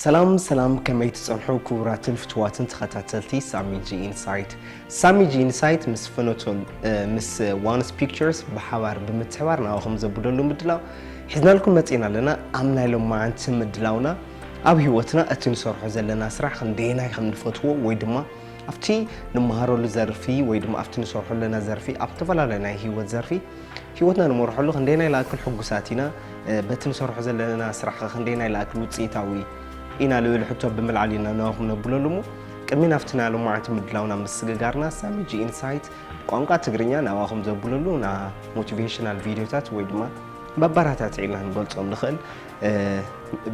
ሰላም ሰላም ከመይ ትጸንሑ ክቡራትን ፍትዋትን ተኸታተልቲ ሳሚጂ ኢንሳይት ሳሚጂ ኢንሳይት ምስ ፍኖቶ ምስ ዋንስ ፒክቸርስ ብሓባር ብምትሕባር ናባኹም ዘብደሉ ምድላው ሒዝናልኩም መጺና ኣለና ኣብ ናይ ሎማዓንቲ ምድላውና ኣብ ህይወትና እቲ ንሰርሖ ዘለና ስራሕ ክንደየናይ ከም ንፈትዎ ወይ ድማ ኣብቲ ንመሃረሉ ዘርፊ ወይ ድማ ኣብቲ ንሰርሖ ኣለና ዘርፊ ኣብ ዝተፈላለዩ ናይ ህይወት ዘርፊ ህይወትና ንመርሐሉ ክንደየናይ ላእክል ሕጉሳት ኢና በቲ ንሰርሖ ዘለና ስራሕ ክንደየናይ ላእክል ውፅኢታዊ ኢና ልብል ሕቶ ብምልዓል ኢና ንዋኹም ነብለሉ እሞ ቅድሚ ናብቲ ናይ ሎማዓንቲ ምድላውና ምስግጋርና ሳሚ ጂ ኢንሳይት ብቋንቋ ትግርኛ ናባኹም ዘብለሉ ና ሞቲቬሽናል ቪድዮታት ወይ ድማ መበራታትዒ ኢልና ንገልፆም ንኽእል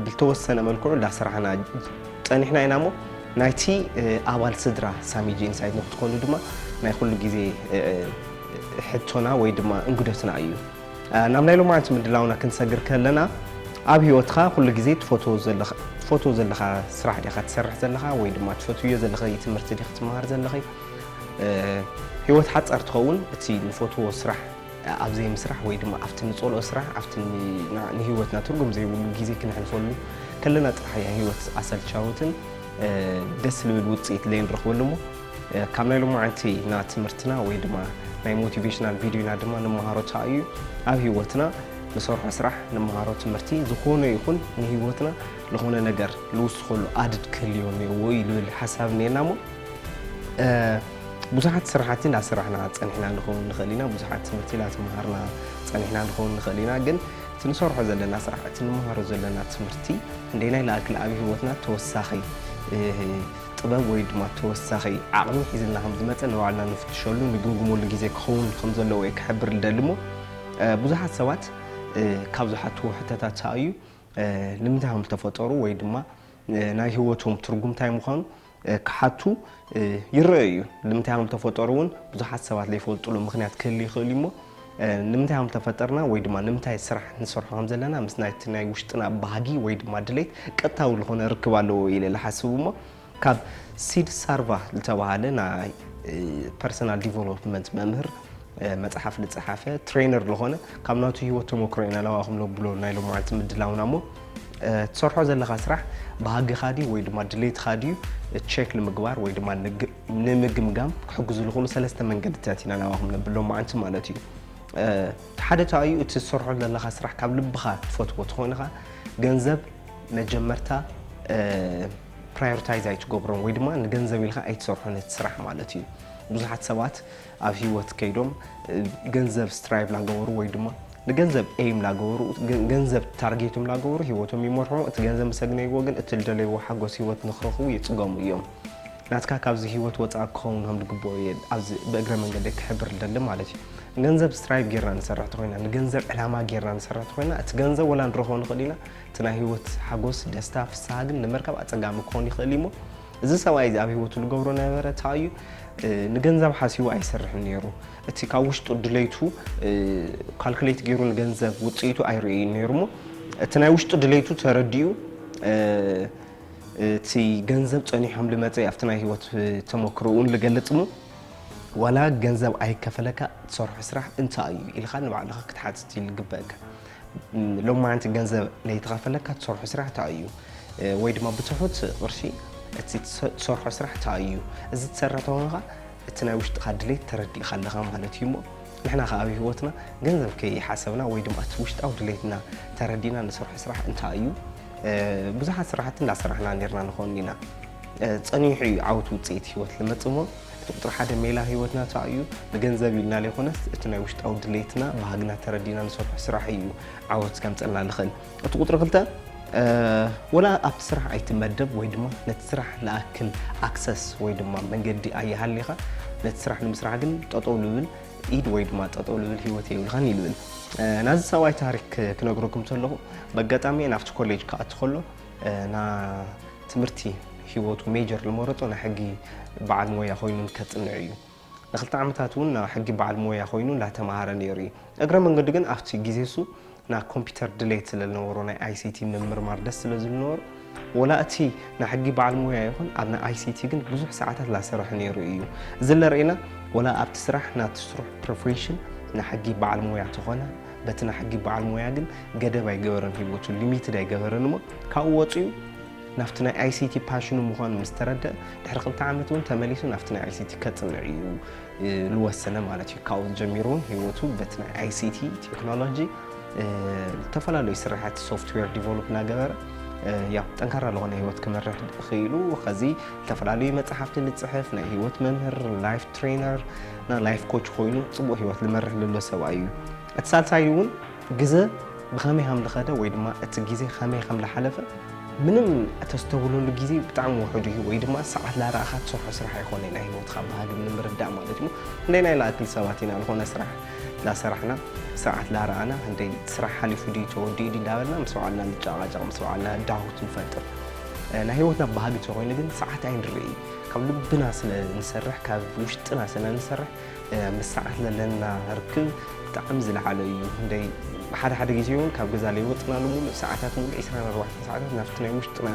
ብልተወሰነ መልክዑ እንዳስራሕና ጸኒሕና ኢና እሞ ናይቲ ኣባል ስድራ ሳሚጂ ኢንሳይት ንክትኮኑ ድማ ናይ ኩሉ ግዜ ሕቶና ወይ ድማ እንግዶትና እዩ ናብ ናይ ሎማዓንቲ ምድላውና ክንሰግር ከለና ኣብ ህይወትካ ኩሉ ግዜ ትፈትዎ ዘለካ ስራሕ ዲኻ ትሰርሕ ዘለካ ወይ ድማ ትፈትውዮ ዘለኺ ትምህርቲ ዲኺ ትመሃር ዘለኺ ህይወት ሓፃር ትኸውን እቲ ንፈትዎ ስራሕ ኣብ ዘይምስራሕ ወይ ድማ ኣብቲ ንጸልኦ ስራሕ ኣብቲ ንህይወትና ትርጉም ዘይብሉ ግዜ ክነሕልፈሉ ከለና ጥራሕ እያ ህይወት ኣሰልቻዊትን ደስ ልብል ውጽኢት ዘይንረኽበሉ እሞ ካብ ናይ ሎማዓንቲና ትምህርትና ወይ ድማ ናይ ሞቲቬሽናል ቪድዮና ድማ ንመሃሮ ታይ እዩ ኣብ ህይወትና ንሰርሖ ስራሕ ንመሃሮ ትምህርቲ ዝኾነ ይኹን ንህይወትና ዝኾነ ነገር ልውስኸሉ ኣድድ ክህልዮ እኒኦዎ እዩ ልብል ሓሳብ እኒኤና እሞ ብዙሓት ስራሕቲ እናሰራሕና ፀኒሕና ንኸውን ንኽእል ኢና ብዙሓት ትምህርቲ እናተምሃርና ፀኒሕና ንኸውን ንኽእል ኢና ግን እቲ ንሰርሖ ዘለና ስራሕ እቲ ንመሃሮ ዘለና ትምህርቲ እንደናይ ላእክል ኣብ ሂወትና ተወሳኺ ጥበብ ወይ ድማ ተወሳኺ ዓቕሚ ሒዝልና ከም ዝመፀ ንባዕልና ንፍትሸሉ ንግምግመሉ ግዜ ክኸውን ከም ዘለዎ እየ ክሕብር ልደሊ እሞ ብዙሓት ሰባት ካብ ዝሓትዎ ሕተታት ሰኣዩ ንምንታይ ከም ዝተፈጠሩ ወይ ድማ ናይ ሂወቶም ትርጉም እንታይ ምዃኑ ክሓቱ ይረኣዩ እዩ። ንምንታይ ሃም ተፈጠሩ እውን ብዙሓት ሰባት ዘይፈልጡሉ ምክንያት ክህል ይኽእል እዩ እሞ ንምንታይ ሃም ተፈጠርና ወይ ድማ ንምንታይ ስራሕ ንሰርሖ ከም ዘለና ምስ ናይቲ ናይ ውሽጥና ባህጊ ወይ ድማ ድሌት ቀጥታዊ ዝኾነ ርክብ ኣለዎ ኢለ ዝሓስብ እሞ ካብ ሲድ ሳርቫ ዝተባሃለ ናይ ፐርሰናል ዲቨሎፕመንት መምህር መጽሓፍ ልጸሓፈ ትሬነር ልኾነ ካብ ናቱ ህይወት ተመክሮ ኢና ናባኹም ነብሎ ናይ ሎመዓልቲ ምድላውና እሞ ትሰርሖ ዘለኻ ስራሕ ባህግኻ ድዩ ወይ ድማ ድሌትኻ ድዩ ቸክ ንምግባር ወይ ድማ ንምግምጋም ክሕግዙ ዝኾኑ ሰለስተ መንገድታት ኢና ናባኹም ነብል ሎመዓልቲ ማለት እዩ ሓደ ተኣዩ እቲ ዝሰርሖ ዘለካ ስራሕ ካብ ልብኻ ትፈትዎ ትኾይንኻ ገንዘብ መጀመርታ ፕራዮሪታይዝ ኣይትገብሮን ወይ ድማ ንገንዘብ ኢልካ ኣይትሰርሖን እቲ ስራሕ ማለት እዩ ብዙሓት ሰባት ኣብ ሂወት ከይዶም ገንዘብ ስትራይቭ ላገበሩ ወይ ድማ ንገንዘብ ኤም ላገበሩ ገንዘብ ታርጌቶም ላገበሩ ሂወቶም ይመርሑ እቲ ገንዘብ ምሰግነይዎ ግን እቲ ልደለይዎ ሓጎስ ሂወት ንክረኽቡ ይፅገሙ እዮም ናትካ ካብዚ ሂወት ወፃእ ክኸውን ከም ዝግበኦ እየ ኣብዚ ብእግረ መንገደ ክሕብር ልደሊ ማለት እዩ ገንዘብ ስትራይቭ ጌርና ንሰርሕ ተኾይና ንገንዘብ ዕላማ ጌርና ንሰርሕ ተኾይና እቲ ገንዘብ ወላ ንረኽቦ ንኽእል ኢና እቲ ናይ ሂወት ሓጎስ ደስታ ፍስሃ ግን ንምርካብ ኣፀጋሚ ክኾን ይኽእል እዩ እሞ እዚ ሰብኣይ እዚ ኣብ ህይወቱ ዝገብሮ ነበረ እንታይ እዩ ንገንዘብ ሓሲቡ ኣይሰርሕን ነይሩ እቲ ካብ ውሽጡ ድሌቱ ካልኩሌት ገይሩ ንገንዘብ ውፅኢቱ ኣይርእዩ ነይሩ እሞ እቲ ናይ ውሽጡ ድሌቱ ተረዲኡ እቲ ገንዘብ ጸኒሖም ልመጸ ኣብቲ ናይ ህይወት ተመክሮውን ልገልጽ እሞ ዋላ ገንዘብ ኣይከፈለካ ትሰርሖ ስራሕ እንታይ እዩ ኢልካ ንባዕልኻ ክትሓትት እዩ ልግበእካ ሎማዓንቲ ገንዘብ ለይተኸፈለካ ትሰርሖ ስራሕ ታይ እዩ? ወይ ድማ ብትሑት ቅርሺ እቲ ትሰርሖ ስራሕ ታይ እዩ? እዚ ትሰርሕ ተኾንኻ እቲ ናይ ውሽጥኻ ድሌት ተረዲእኻ ኣለኻ ማለት እዩ እሞ ንሕና ከዓ ኣብ ህይወትና ገንዘብ ከይሓሰብና ወይ ድማ እቲ ውሽጣዊ ድሌትና ተረዲእና ንሰርሖ ስራሕ እንታይ እዩ ብዙሓት ስራሕቲ እንዳሰራሕና ኔርና ንኾን ኢና ጸኒሑ እዩ ዓወት ውጽኢት ህይወት ልመጽእ እሞ እቲ ቁፅሪ ሓደ ሜላ ህይወትና ቻው እዩ። ንገንዘብ ኢልና ዘይኮነስ እቲ ናይ ውሽጣዊ ድሌትና ባህግና ተረዲና ንሰርሖ ስራሕ እዩ ዓወት ከምፀልና ንኽእል። እቲ ቁፅሪ ክልተ ወላ ኣብቲ ስራሕ ኣይትመደብ ወይ ድማ ነቲ ስራሕ ልኣክል ኣክሰስ ወይ ድማ መንገዲ ኣይሃሊኻ ነቲ ስራሕ ንምስራሕ ግን ጠጠው ልብል ኢድ ወይ ድማ ጠጠው ልብል ህይወት የብልኻን ይልብል ናዚ ሰብኣይ ታሪክ ክነግረኩም ከለኹ በኣጋጣሚ ናብቲ ኮሌጅ ክኣቲ ከሎ ንትምህርቲ ህይወቱ ሜጀር ዝመረጾ ናይ ሕጊ በዓል ሞያ ኮይኑ ከጽንዕ እዩ። ንክልተ ዓመታት እውን ናይ ሕጊ በዓል ሞያ ኮይኑ እንዳተማሃረ ነይሩ እዩ። እግረ መንገዱ ግን ኣብቲ ግዜ እሱ ናይ ኮምፒተር ድሌት ስለ ዝነበሮ ናይ ኣይሲቲ ምምርማር ደስ ስለ ዝብል ነበሮ ወላ እቲ ናይ ሕጊ በዓል ሞያ ይኹን ኣብ ናይ ኣይሲቲ ግን ብዙሕ ሰዓታት ላሰርሐ ነይሩ እዩ። እዚ ለርእየና ወላ ኣብቲ ስራሕ ናቲ ስርሑ ፕሮፌሽን ናይ ሕጊ በዓል ሞያ ተኾነ በቲ ናሕጊ በዓል ሞያ ግን ገደብ ኣይገበረን ሂወቱ ሊሚትድ ኣይገበረን እሞ ካብኡ ወፂኡ ናብቲ ናይ ኣይሲቲ ፓሽኑ ምዃኑ ምስ ተረድአ ድሕሪ ክልተ ዓመት እውን ተመሊሱ ናብቲ ናይ ኣይሲቲ ከፅንዕ እዩ ዝወሰነ ማለት እዩ ካብኡ ጀሚሩ እውን ሂወቱ በቲ ናይ ኣይሲቲ ቴክኖሎጂ ዝተፈላለዩ ስራሕቲ ሶፍትዌር ዲቨሎፕ እናገበረ ያው ጠንካራ ዝኾነ ህይወት ክመርሕ ክኢሉ ከዚ ዝተፈላለዩ መፅሓፍቲ ዝፅሕፍ ናይ ህይወት መምህር ላይፍ ትሬነር ናይ ላይፍ ኮች ኮይኑ ጽቡቕ ህይወት ዝመርሕ ዘሎ ሰብኣይ እዩ። እቲ ሳልሳይ እውን ግዘ ብኸመይ ከም ዝኸደ ወይ ድማ እቲ ግዜ ከመይ ከም ዝሓለፈ ምንም እተስተውለሉ ግዜ ብጣዕሚ ውሑድ እዩ ወይ ድማ ሰዓት ላረኣኻ ትሰርሖ ስራሕ ኣይኮነ ናይ ህይወትካ ባህሉ ንምርዳእ ማለት እዩ። ክንደይ ናይ ላእክል ሰባት ኢና ዝኾነ ስራሕ ላሰራሕና ሰዓት ላረኣና ክንደይ ስራሕ ሓሊፉ ድዩ ተወዲኡ ድዩ እንዳበልና ምስ በዓልና ንጨቓጨቕ ምስ በዓልና ዳውት ንፈጥር ናይ ህይወትና ባህጊ ተኮይኑ ግን ሰዓት ኣይንርኢ ካብ ልብና ስለ ንሰርሕ ካብ ውሽጥና ስለ ንሰርሕ ምስ ሰዓት ዘለና ርክብ ብጣዕሚ ዝለዓለ እዩ ክንደይ ሓደ ሓደ ግዜ እውን ካብ ገዛ ለይወፅና ንምሉእ ሰዓታት ምሉእ 24 ሰዓታት ናብቲ ናይ ውሽጥና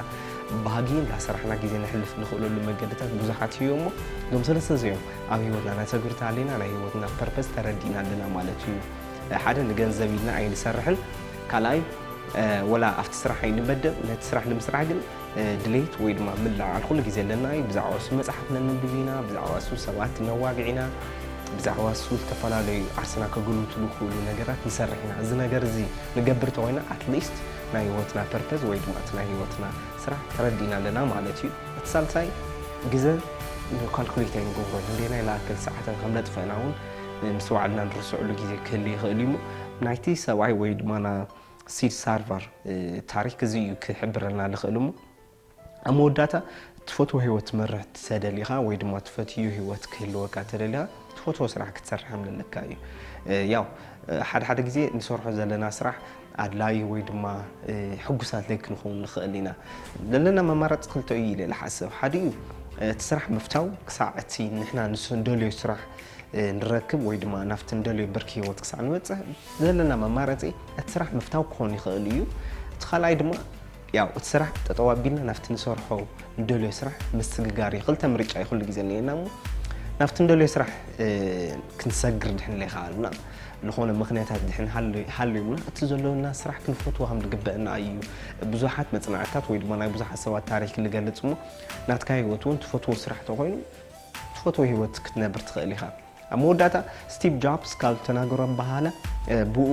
ባህጊ እንዳሰራሕና ግዜ ነሕልፍ ንኽእለሉ መገድታት ብዙሓት እዩ እሞ እዞም ሰለስተ እዚኦም ኣብ ሂወትና ነተግብርቲ ኣለና ናይ ሂወትና ፐርፐስ ተረዲእና ኣለና ማለት እዩ ሓደ ንገንዘብ ኢልና ኣይንሰርሕን ካልኣይ ወላ ኣብቲ ስራሕ ኣይንመደብ ነቲ ስራሕ ንምስራሕ ግን ድሌት ወይ ድማ ምልዕዓል ኩሉ ግዜ ኣለና እዩ። ብዛዕባ እሱ መጽሓፍ ነንብብ ኢና፣ ብዛዕባ እሱ ሰባት ነዋግዕ ኢና፣ ብዛዕባ እሱ ዝተፈላለዩ ዓርስና ከገልቱ ዝኽእሉ ነገራት ንሰርሕ ኢና። እዚ ነገር እዚ ንገብር እንተኾይና ኣትሊስት ናይ ህይወትና ፐርፐዝ ወይ ድማ እቲ ናይ ህይወትና ስራሕ ተረዲእና ኣለና ማለት እዩ። እቲ ሳልሳይ ግዘ ካልኩሌት ኣይንገብሮ ንንደየናይ ንኣክል ሰዓትን ከም ነጥፍእና እውን ምስ ባዕልና ንርስዕሉ ግዜ ክህሉ ይኽእል እዩ እሞ ናይቲ ሰብኣይ ወይ ድማ ሲድ ሳርቫር ታሪክ እዚ እዩ ክሕብረልና ልኽእል እሞ ኣብ መወዳእታ ትፈትዎ ህይወት ትመርሕ ተደሊኻ ወይ ድማ ትፈትዩ ህይወት ክህልወካ ተደሊኻ ትፈትዎ ስራሕ ክትሰርሕ ኣለካ እዩ ያው ሓደ ሓደ ግዜ ንሰርሖ ዘለና ስራሕ ኣድላዩ ወይ ድማ ሕጉሳት ለይ ክንኸውን ንኽእል ኢና ዘለና መማረፂ ክልተ እዩ ኢለ ዝሓስብ ሓደ እዩ እቲ ስራሕ ምፍታው ክሳዕ እቲ ንሕና ንሱ እንደልዮ ስራሕ ንረክብ ወይ ድማ ናብቲ እንደልዮ ብርኪ ሂወት ክሳዕ ንበፅሕ ዘለና መማረፂ እቲ ስራሕ ምፍታው ክኾን ይኽእል እዩ። እቲ ካልኣይ ድማ ያው እቲ ስራሕ ጠጠው ኣቢልና ናብቲ ንሰርሖ ንደልዮ ስራሕ ምስግጋር እዩ። ክልተ ምርጫ እዩ ኩሉ ግዜ እኒኤና እሞ ናብቲ ንደልዮ ስራሕ ክንሰግር ድሕን ዘይከኣልና ዝኾነ ምክንያታት ድሕን ሃልዩና እቲ ዘለውና ስራሕ ክንፈትዎ ከም ዝግበአና እዩ። ብዙሓት መፅናዕትታት ወይ ድማ ናይ ብዙሓት ሰባት ታሪክ ንገልፅ እሞ ናትካ ህይወት እውን ትፈትዎ ስራሕ ተኾይኑ ትፈትዎ ህይወት ክትነብር ትኽእል ኢኻ። ኣብ መወዳእታ ስቲቭ ጃብስ ካብ ዝተናገሮም በሃላ ብኡ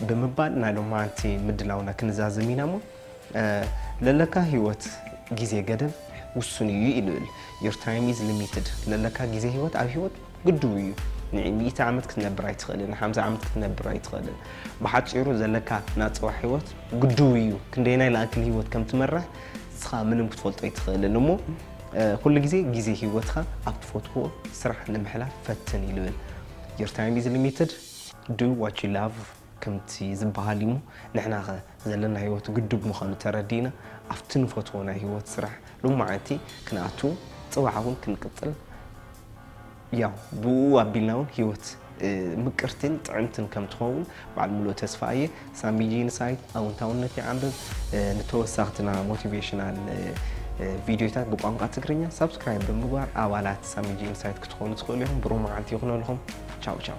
ብምባል ናይ ሎማዓንቲ ምድላውና ክንዛዝም ኢና እሞ ለለካ ህይወት ግዜ ገደብ ውሱን እዩ እዩ ልብል ዮር ታይም ኢዝ ሊሚትድ ለለካ ግዜ ህይወት ኣብ ህይወት ግድቡ እዩ ንሚእቲ ዓመት ክትነብር ኣይትኽእልን ንሓምሳ ዓመት ክትነብር ኣይትኽእልን ብሓፂሩ ዘለካ ናፅዋ ህይወት ግድቡ እዩ ክንደይናይ ላኣክል ህይወት ከም ትመርሕ ንስኻ ምንም ክትፈልጦ ኣይትኽእልን እሞ ኩሉ ግዜ ግዜ ሂወትካ ኣብ ትፈትዎ ስራሕ ንምሕላፍ ፈትን ኢሉ እል your time is limited do what you love ከምቲ ዝብሃል እዩሞ ንሕና ከ ዘለና ሂወት ግዱድ ምኳኑ ተረዲእና ኣብቲ ንፈትዎ ናይ ሂወት ስራሕ ሎማዓንቲ ክንኣቱ ጽባሕ ውን ክንቅጽል ያው ብኡ ኣቢልና ውን ሂወት ምቅርትን ጥዕምትን ከም ትኸውን በዓል ሙሉእ ተስፋ እየ። ሳሚ ጂንሳይት ኣውንታውነት ይዓምብብ ንተወሳኽትና ሞቲቬሽናል ቪድዮታት ብቋንቋ ትግርኛ ሳብስክራይብ ብምግባር ኣባላት ሳሚ ጂንሳይት ክትኾኑ ትኽእሉ ኢኹም። ብሩህ መዓልቲ ይኹነልኹም። ቻው ቻው።